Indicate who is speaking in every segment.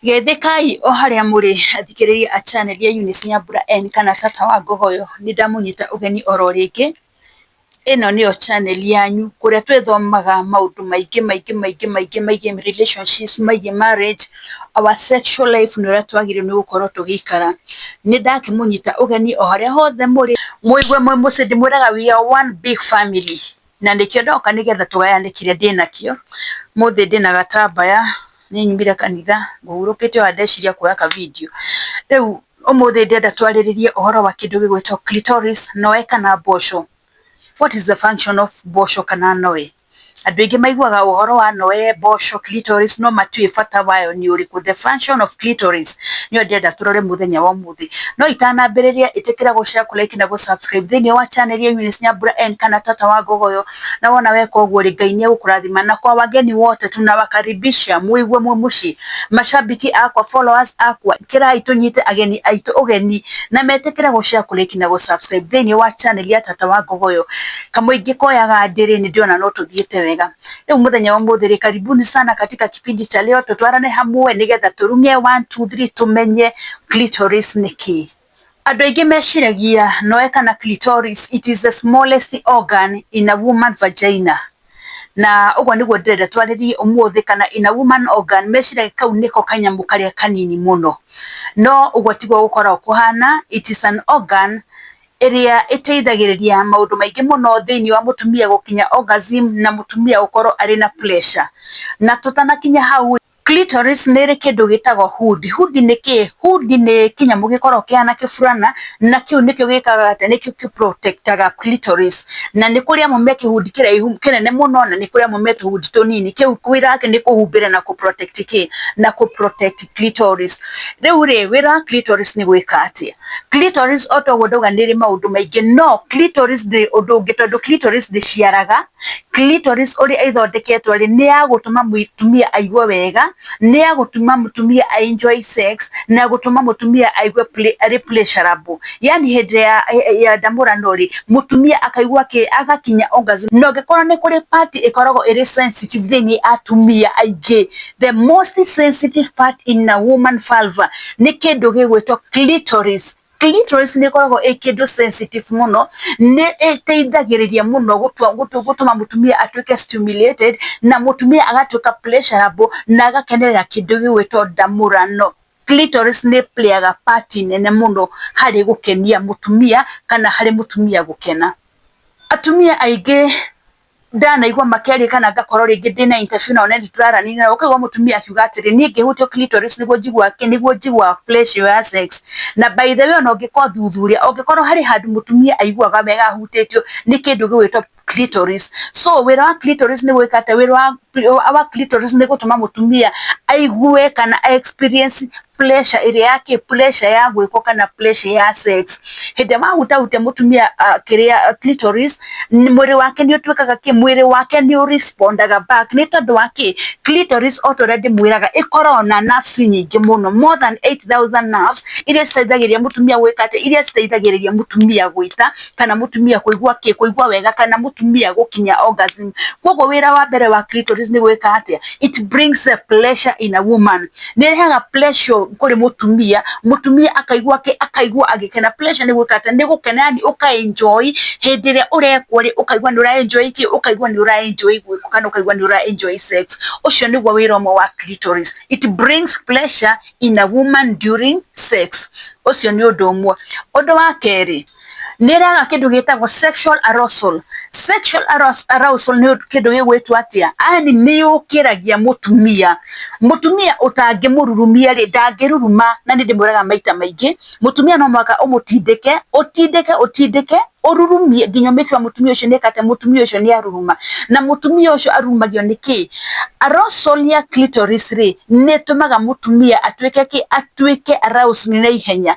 Speaker 1: Geithĩkai o harĩa mũrĩ athikĩrĩria a channel ya Eunice Nyambura N kana Tata wa Ngogoyo, nĩ ndamũnyita ũgeni oro rĩngĩ. Ĩno nĩyo channel yanyu kũrĩa twĩthomaga maũndũ maingĩ maingĩ maingĩ maingĩ megiĩ relationships, megiĩ marriage, our sexual life na ũrĩa twagĩrĩirwo nĩ gũkorwo tũgĩikara. Nĩ ndakĩmũnyita ũgeni o harĩa hothe mũrĩ, mũigue mwĩ mũciĩ ndĩmwĩraga we are one big family. na nĩkĩo ndoka nĩgetha tũgayanĩkĩre ndĩ nakĩo, ũmũthĩ ndĩ na gatambaya, nĩ nyumire kanitha ngũhurũkĩte o haha ndeciria kuoya ka video, rĩu ũmũthĩ ndĩrenda twarĩrĩrie ũhoro wa kĩndũ gĩgwĩtwo clitoris noe kana mboco, what is the function of mboco kana noe, andũ aingĩ maiguwaga ũhoro wa noe, mboco, clitoris no matiũwĩ bata wayo nĩ ũrĩkũ, the function of clitoris nĩyo ndĩrenda tũrore mũthenya wa ũmũthĩ. thĩ no itanambĩrĩria ĩtĩkĩra gũ share, kũ like na gũ subscribe thĩinĩ wa channel ya Eunice Nyambura N kana Tata wa Ngogoyo na wona weka ũguo rĩ Ngai nĩ egũkũrathima na kwa wageni wote tunawakaribisha mũigue mwĩ mũciĩ mashabiki akwa followers akwa kĩrai tũnyite ageni aitũ ũgeni na metĩkĩre gũ share, kũ like na gũ subscribe thĩinĩ wa channel ya Tata wa Ngogoyo kamũingĩ koyaga ndĩrĩ nĩ ndĩrona no tũthiĩte wega rĩu mũthenya wa ũmũthĩ rĩ karibuni sana katika kipindi cha leo tũtwarane hamwe nĩgetha tũrunge one two three tũmenye Clitoris nĩ kĩĩ? Andũ aingĩ meciragia noe kana clitoris it is the smallest organ in a woman vagina. Na ũguo nĩguo ndĩrenda twarĩrie ũmũthĩ kana in a woman organ meciragia kau nĩko kanyamũ karĩa kanini mũno. No ũguo tiguo gũkoragwo kũhana, it is an organ ĩrĩa ĩteithagĩrĩria maũndũ maingĩ mũno thĩinĩ wa mũtumia gũkinya orgasm na mũtumia gũkorwo arĩ na pleasure. Na tũtanakinya hau rĩ, Clitoris nĩ ĩrĩ kĩndũ gĩtagwo hoood. Hoood nĩ kĩĩ? Hoood nĩ kĩnyamũ gĩkoragwo kĩhana kĩburana, na kĩu nĩkĩo gĩkaga atĩ, nĩkĩo kĩ protect aga clitoris. Na nĩ kũrĩ amwe me kĩhudi kĩraihu, kĩnene mũno, na nĩ kũrĩ amwe me tũhudi tũnini. Kĩu wĩra wakĩo nĩ kũhumbĩra na kũ protect kĩĩ? Na kũ protect clitoris. Rĩu rĩ, wĩra wa clitoris nĩ gwĩka atĩa? Clitoris o ta ũguo ndauga nĩ ĩrĩ maũndũ maingĩ, no clitoris ndĩrĩ ũndũ ũngĩ tondũ clitoris ndĩciaraga, Clitoris ũrĩa ĩthondeketwo rĩ, nĩ ya gũtũma mũtumia aigue wega, nĩ ya gũtũma mũtumia a enjoy sex, na gũtũma mũtumia aigue arĩ pleasurable. Yaani hĩndĩ ĩrĩa ya ndamũrano rĩ, mũtumia akaigua kĩ? Agakinya orgasm. Na ũngĩkora nĩ kũrĩ part ĩkoragwo ĩrĩ sensitive thĩiniĩ ya atumia aingĩ, the most sensitive part in a woman vulva nĩ kĩndũ gĩgwĩtwo clitoris. Clitoris nĩ ĩkoragwo ĩĩ kĩndũ sensitive mũno, nĩ ĩteithagĩrĩria mũno gũtua gũtũma mũtumia atuĩke stimulated, na mũtumia agatuĩka pleasurable, na agakenerera kĩndũ gĩgwĩtwo ndamũrano. Clitoris nĩ ĩĩ player ga part nene mũno harĩ gũkenia mũtumia, kana harĩ mũtumia gũkena. Atumia aingĩ ndanaigua makerĩkana ngakorwo rĩngĩ ndĩna interview nao na nĩtũraranĩria nao, ũkaigua mũtumia akiuga atĩrĩ niĩ ngĩhutio clitoris nĩguo njiguaga kĩ, nĩguo njiguaga pleasure ya sex. Na by the way ona ũngĩka ũthuthuria, ũngĩkorwo harĩ handũ mũtumia aiguaga wega ahutĩtio nĩ kĩndũ gĩgwĩtwo clitoris. So wĩra wa clitoris nĩ gwĩka atĩa, wĩra wa clitoris nĩ gũtũma mũtumia aigue kana a experience puresha ĩrĩa ya kĩ puresha ya gwĩkwo kana puresha ya sex. Hĩndĩ ĩrĩa wahutahutia mũtumia kĩrĩa clitoris, mwĩrĩ wake nĩ ũtuĩkaga kĩ, mwĩrĩ wake nĩ ũ respond aga back nĩ tondũ wa kĩ, clitoris o ta ũrĩa ndĩmwĩraga ĩkoragwo na nerves nyingĩ mũno more than eight thousand nerves iria citeithagĩrĩria mũtumia gwĩka atĩ, iria citeithagĩrĩria mũtumia gwĩka kana mũtumia kũigua kĩ, kũigua wega kana mũtumia gũkinya orgasm. Kũguo wĩra wa mbere wa clitoris nĩ gwĩka atĩa, it brings a pleasure in a woman nĩ ĩrehaga pleasure kũrĩ mũtumia mũtumia akaigua akaigua agĩkena pleasure nĩ gwĩka atĩ nĩ gũkena yani ũka enjoy hĩndĩ ĩrĩa ũrekwo rĩ ũkaigua nĩ ũra enjoy kĩ ũkaigua nĩ ũra enjoy gwĩkwo kana ũkaigua nĩ ũra enjoy sex ũcio nĩguo wĩra ũmwe wa clitoris it brings pleasure in a woman during sex ũcio nĩ ũndũ ũmwe ũndũ wa kerĩ nĩ ĩrehaga kĩndũ gĩtagwo sexual arousal. Sexual arousal nĩ kĩndũ gĩgwĩtwo atĩa? Yaani nĩ yũkĩragia mũtumia. Mũtumia ũtangĩmũrurumia rĩ, ndangĩruruma na nĩ ndĩmwĩraga maita maingĩ, mũtumia no mũhaka ũmũtindĩke, ũtindĩke, ũtindĩke, ũrurumie nginya ũ make sure mũtumia ũcio nĩ eka atĩa, mũtumia ũcio nĩ aruruma. Na mũtumia ũcio arurumagio nĩ kĩ? Arousal ya clitoris rĩ, nĩ ĩtũmaga mũtumia atuĩke kĩ? Atuĩke aroused naihenya.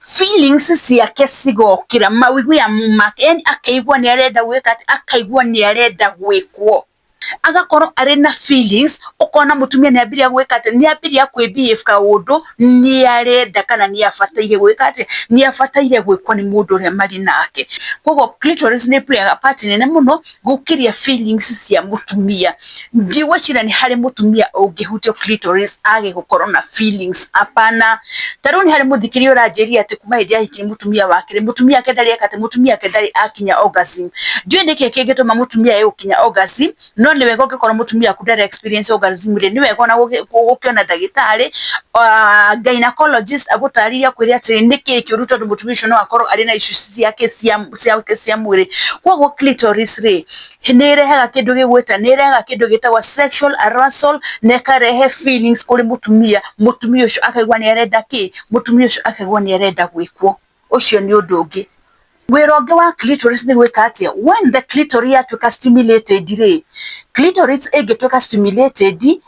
Speaker 1: feeling cia kĩcigokĩra mawiguya make yani akaigua nĩ arenda gwĩka atĩ akaigua nĩ arenda gwĩkwo agakorwo arĩ na feelings ũkona mũtumia nĩ ambĩrĩria gwĩka atĩ nĩ ambĩrĩria kwĩ behave ka ũndũ nĩ arenda kana nĩ abataire gwĩka atĩ nĩ abataire gwĩkwo nĩ mũndũ ũrĩa marĩ nake, koguo clitoris nĩ ĩplayaga part nene mũno gũkĩria feelings cia mũtumia. Ndigwĩciria nĩ harĩ mũtumia ũngĩhutio clitoris age gũkorwo na feelings, hapana. Ta rĩu nĩ harĩ mũthikiri ũranjĩrire atĩ kuma hĩndĩ ahikirie mũtumia wa kerĩ, mũtumia wake ndarĩ eka atĩ, mũtumia wake ndarĩ akinya orgasm. Ndiũĩ nĩkĩ kĩngĩtũma mũtumia age gũkinya orgasm, no nĩ wega ũngĩkorwo mũtumia waku ndara experience orgasm rĩ, nĩ wega ona gũkĩona ndagĩtarĩ, gynaecologist agũtarĩrie akwĩre atĩrĩrĩ nĩkĩ kĩũru tondũ mũtumia ũcio no akorwo arĩ na issues ciake cia koguo clitoris rĩ nĩ ĩrehaga kĩndũ gĩgwĩta nĩ ĩrehaga kĩndũ gĩtagwo sexual arousal na ĩkarehe feelings kũrĩ mũtumia, mũtumia ũcio akaigua nĩ arenda kĩ? mũtumia ũcio akaigua nĩ arenda gwĩkwo. Ũcio nĩ ũndũ ũngĩ. Wĩra ũngĩ wa clitoris nĩ gwĩka atĩa? When the clitoris yatuĩka stimulated rĩ, clitoris ĩngĩtuĩka stimulated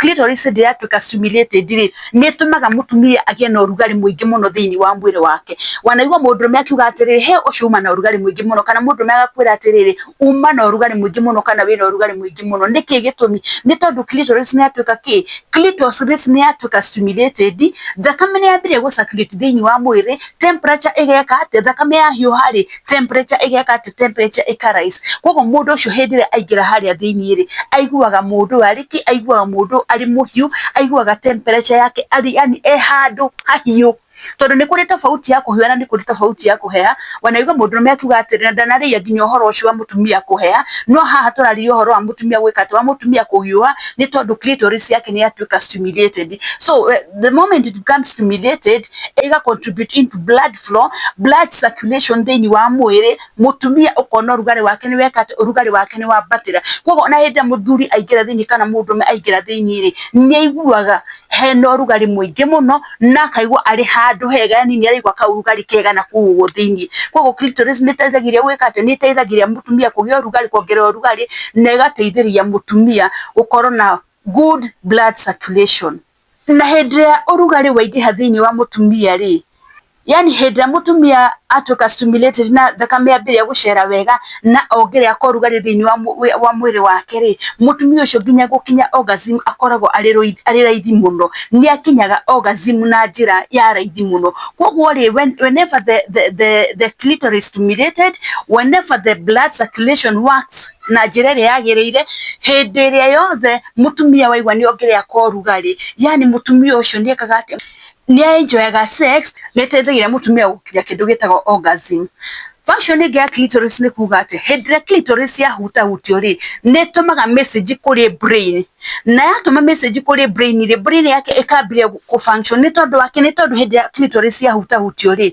Speaker 1: Clitoris ndĩ ya tuika stimulated rĩ, nĩ ĩtũmaga mũtumia agĩe na ũrugarĩ mũingĩ mũno thĩinĩ wa mwĩrĩ wake. Wanaigua mũndũrũme akiuga atĩrĩrĩ, he ũcio uma na ũrugarĩ mũingĩ mũno, kana mũndũrũme agakwĩra atĩrĩrĩ, uma na ũrugarĩ mũingĩ mũno, kana wĩna ũrugarĩ mũingĩ mũno. Nĩkĩ gĩtũmi? Nĩ tondũ clitoris nĩ ya tuĩka kĩ? Clitoris nĩ ya tuĩka stimulated, thakame nĩ yambĩrĩria gũ circulate thĩinĩ wa mwĩrĩ, temperature ĩgeka atĩa, thakame ya hiũha rĩ, temperature ĩgeka atĩa, temperature ĩka rise. Koguo mũndũ ũcio hĩndĩ ĩrĩa aingĩra harĩa thĩiniĩ rĩ, aiguaga mũndũ ũyũ arĩ kĩ, aiguaga mũndũ ũyũ arĩ mũhiũ, aiguaga temperature yake arĩ yani e handũ hahiũ. Tondũ nĩ kũrĩ tofauti ya kũhiũha na nĩ kũrĩ tofauti ya kũheha. Wanaigua mũndũrũme akiuga atĩrĩ, na ndanarĩrĩria nginya ũhoro ũcio wa mũtumia kũheha, no haha tũrarĩrĩria ũhoro wa mũtumia gwĩka atĩa, wa mũtumia kũhiũha nĩ tondũ clitoris yake nĩ yatuĩka stimulated. So the moment it becomes stimulated, ĩ ga contribute into blood flow, blood circulation thĩinĩ wa mwĩrĩ, mũtumia ũkona ũrugarĩ wake nĩ weka atĩ, ũrugarĩ wake nĩ wambatĩra. Kũguo ona hĩndĩ ĩrĩa mũthuri aingĩra thĩinĩ kana mũndũrũme aingĩra thĩinĩ rĩ, nĩ aiguaga hena ũrugarĩ mũingĩ mũno, na akaigua arĩ handũ hega yani nĩ araigua kaũrugarĩ kega na kũu ũguo thĩinĩ. Kũguo clitoris nĩ ĩteithagĩrĩria gwĩka atĩ, nĩ ĩteithagĩrĩria mũtumia kũgĩa ũrugarĩ kuongerera ũrugarĩ, na ĩgateithĩrĩria mũtumia gũkorwo na good blood circulation. Na hĩndĩ ĩrĩa ũrugarĩ waingĩha thĩinĩ wa mũtumia rĩ, yani hĩndĩ ĩrĩa mũtumia atuĩka stimulated na thakame yambĩrĩria gũcera wega na ongerera kwa ũrugarĩ thĩinĩ wa, wa mwĩrĩ wake rĩ, mũtumia ũcio nginya gũkinya orgasm akoragwo arĩ rũithi, arĩ raithi mũno. Nĩ akinyaga orgasm na njĩra ya raithi mũno. Koguo rĩ, whenever the, the, the, the clitoris stimulated, whenever the blood circulation works, na njĩra ĩrĩa yagĩrĩire hĩndĩ ĩrĩa yothe mũtumia waigua nĩ ongerea kwa ũrugarĩ, yani mũtumia ũcio nĩ ekaga atĩ nĩ a enjoy aga sex, nĩ ĩteithagia mũtumia gũkinya kĩndũ gĩtagwo orgasm. Function ĩngĩ ya clitoris nĩ kuga atĩ hĩndĩ ĩrĩa clitoris ya hutahutio rĩ, nĩ ĩtũmaga message kũrĩ brain, na yatũma message kũrĩ brain rĩ, brain yake ĩkambĩrĩria gũ function nĩ tondũ wa kĩ? Nĩ tondũ hĩndĩ ĩrĩa clitoris ya hutahutio rĩ,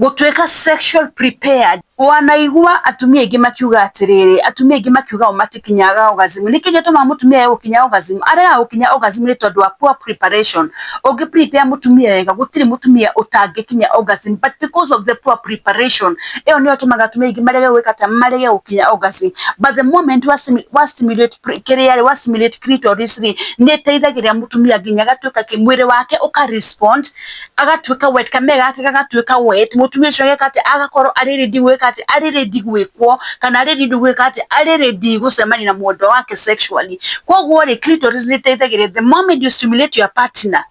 Speaker 1: Gũtuĩka sexual prepared. Wanaigua atumia aingĩ makiuga atĩrĩrĩ, atumia aingĩ makiuga o matikinyaga orgasm. Nĩkĩ gĩtũmaga mũtumia age gũkinya orgasm? Aregaga gũkinya orgasm nĩ tondũ wa poor preparation. Ũngĩ prepare mũtumia wega, gũtirĩ mũtumia ũtangĩkinya orgasm but because of the poor preparation, ĩyo nĩyo ĩtũmaga atumia aingĩ marege gwĩka atĩa? Marege gũkinya orgasm. But the moment wa wa stimulate kĩrĩa rĩ, wa stimulate clitoris rĩ, nĩ ĩteithagĩrĩria mũtumia nginya agatuĩka kĩ, mwĩrĩ wake ũka respond agatuĩka wet kamere gake gagatuĩka wet, mũtumia ũcio ageka atĩ agakorwo arĩ ready gwĩka atĩ arĩ ready gwĩkwo kana arĩ ready gwĩka atĩ arĩ ready gũcemania na mwendwa wake sexually. Koguo rĩ clitoris nĩ ĩteithagĩrĩria the moment you stimulate your partner,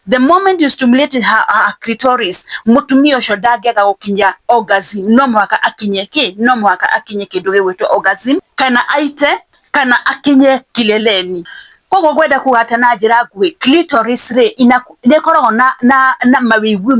Speaker 1: the moment you stimulate her her clitoris mũtumia ũcio ndangĩaga gũkinya orgasm no mũhaka akinye kĩ? No mũhaka akinye kĩndũ gĩgwĩtwo orgasm kana aite ka na akinyie kileleni koguo ngwenda kuga atĩ na njĩra nguhĩ clitoris rĩ ina nĩ ĩkoragwo na na na mawĩigwi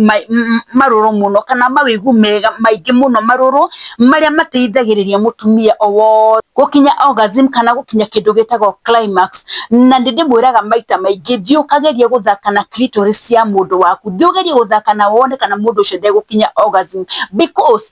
Speaker 1: marũrũ mũno kana mawĩigwi mega maingĩ mũno marũrũ marĩa mateithagĩrĩria mũtumia o wothe gũkinya orgasm kana gũkinya kĩndũ gĩtagwo climax na nĩ ndĩmwĩraga maita maingĩ thiĩ ũkagerie gũthaka na clitoris ya mũndũ waku thiĩ ũgerie gũthaka na wone kana mũndũ ũcio ndegũkinya orgasm because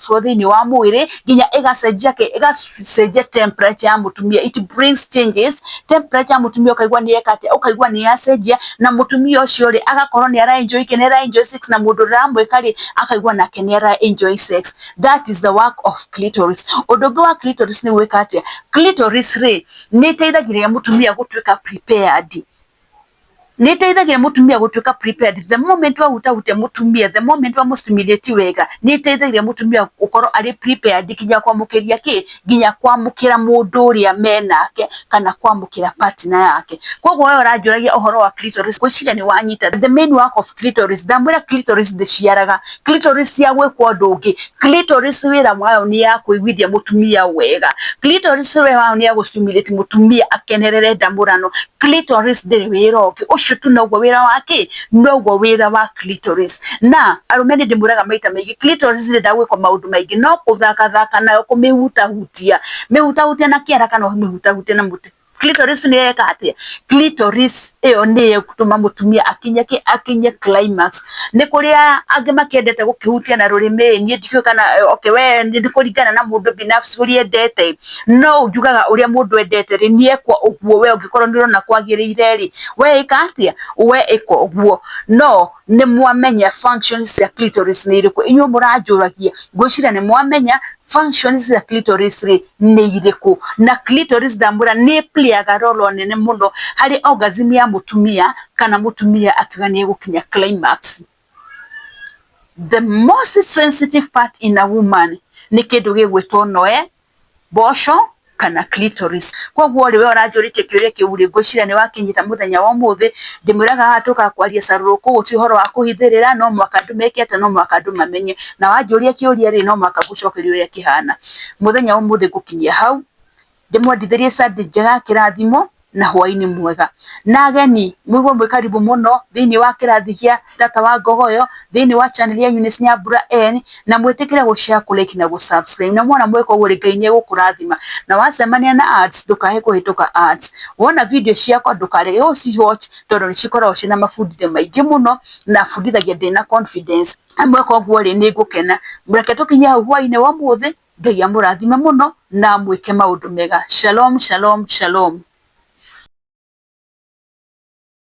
Speaker 1: so thĩinĩ wa mwĩrĩ nginya ĩgacenjia kĩ ĩgacenjia temperature ya mũtumia it brings changes temperature ya mũtumia ũkaigua nĩ eka atĩa ũkaigua nĩ yacenjia na mũtumia ũcio rĩ agakorwo nĩ ara enjoy kĩ nĩ ara enjoy sex na mũndũ ũrĩa ũramwĩka rĩ akaigua nake nĩ ara enjoy sex that is the work of clitoris ũndũ ũngĩ wa clitoris nĩ gwĩka atĩa clitoris rĩ nĩ ĩteithagĩrĩria mũtumia gũtuĩka prepared nĩ ĩteithagia mũtumia gũtuĩka prepared the moment wahutahutia mũtumia the moment wamũstimulate wega nĩ ĩteithagia mũtumia gũkorwo arĩ prepared nginya kwamũkĩria kĩ nginya kwamũkĩra mũndũ ũrĩa menake kana kwamũkĩra partner yake koguo we ũranjũragia ũhoro wa clitoris ngwĩciria nĩ wanyita the main work of clitoris ndamwĩra clitoris ndĩciaraga clitoris ya gwĩkwo ũndũ ũngĩ clitoris wĩra wayo nĩ ya kũiguithia mũtumia wega clitoris wĩra wayo nĩ ya gũstimulate mũtumia akenerere ndamũrano clitoris ndĩrĩ wĩra ũngĩ ũcio tu noguo wĩra wa kĩ noguo wĩra wa clitoris na arũme nĩ ndĩmwĩraga maita maingĩ clitoris ndĩrĩ ndagwĩkwo maũndũ maingĩ no kũthakathaka nayo kũmĩhutahutia mĩhutahutia na kĩara kana ũmĩhutahutie na mũtĩ nĩyeka atĩa? ĩyo nĩyo ĩgũtũma mũtumia akinye kĩ? Akinye climax. Nĩ kũrĩ angĩ makĩendete gũkĩhutia na rũrĩmĩ ĩ, niĩ ndikĩũĩ kana, okay we nĩ kũringana na mũndũ binafsi ũrĩa endete ĩ, no njugaga ũrĩa mũndũ endete rĩ, nĩ ekwo ũguo we ũngĩkorwo nĩ ũrona kwagĩrĩire rĩ, we ĩka atĩa? We ĩka ũguo. No nĩ mwamenya function cia clitoris nĩ irĩkũ, inyuĩ mũranjũragia ngwĩciria nĩ mwamenya function cia clitoris rĩ nĩ irĩkũ, na clitoris ndamwĩra nĩ play aga role nene mũno harĩ orgasm ya mũtumia kana mũtumia akiuga nĩ egũkinya climax. The most sensitive part in a woman nĩ kĩndũ gĩgwĩtwo noe Mboco kana clitoris. Koguo rĩ we ũranjũrĩtie kĩũria kĩu rĩ, ngwĩciria nĩ wakinyĩte mũthenya wa ũmũthĩ. Ndĩmwĩraga haha tũkaga kwaria carũrũkũ, ũyũ ti ũhoro wa kũhithĩrĩra, no mũhaka ndĩmeke atĩa, no mũhaka andũ mamenye. Na wanjũria kĩũria rĩ, no mũhaka ngũcokerie ũrĩa kĩhana. Mũthenya wa ũmũthĩ ngũkinyia hau, ndĩmwendithĩrie Sunday njega ya kĩrathimo. na hwainĩ mwega. Na ageni, mwĩguo mwĩ karibu mũno thĩinĩ wa kĩrathi gĩa Tata wa Ngogoyo, thĩinĩ wa channel ya Eunice Nyambura N, na mwĩtĩkĩre gũ share, kũ like na gũ subscribe. Na mwona mweka ũguo rĩ, Ngai nĩ egũkũrathima. Na wacemania na ads, ndũkae kũhĩtũka ads. Wona video ciakwa ndũkarege gũ ci watch tondũ nĩ cikoragwo ciĩna mabundithio maingĩ mũno, na bundithagia ndĩna confidence. Na mweka ũguo rĩ, nĩ ngũkena. Reke tũkinye hau hwainĩ wa ũmũthĩ. Ngai amũrathime mũno na amwĩke maũndũ mega. Shalom shalom shalom.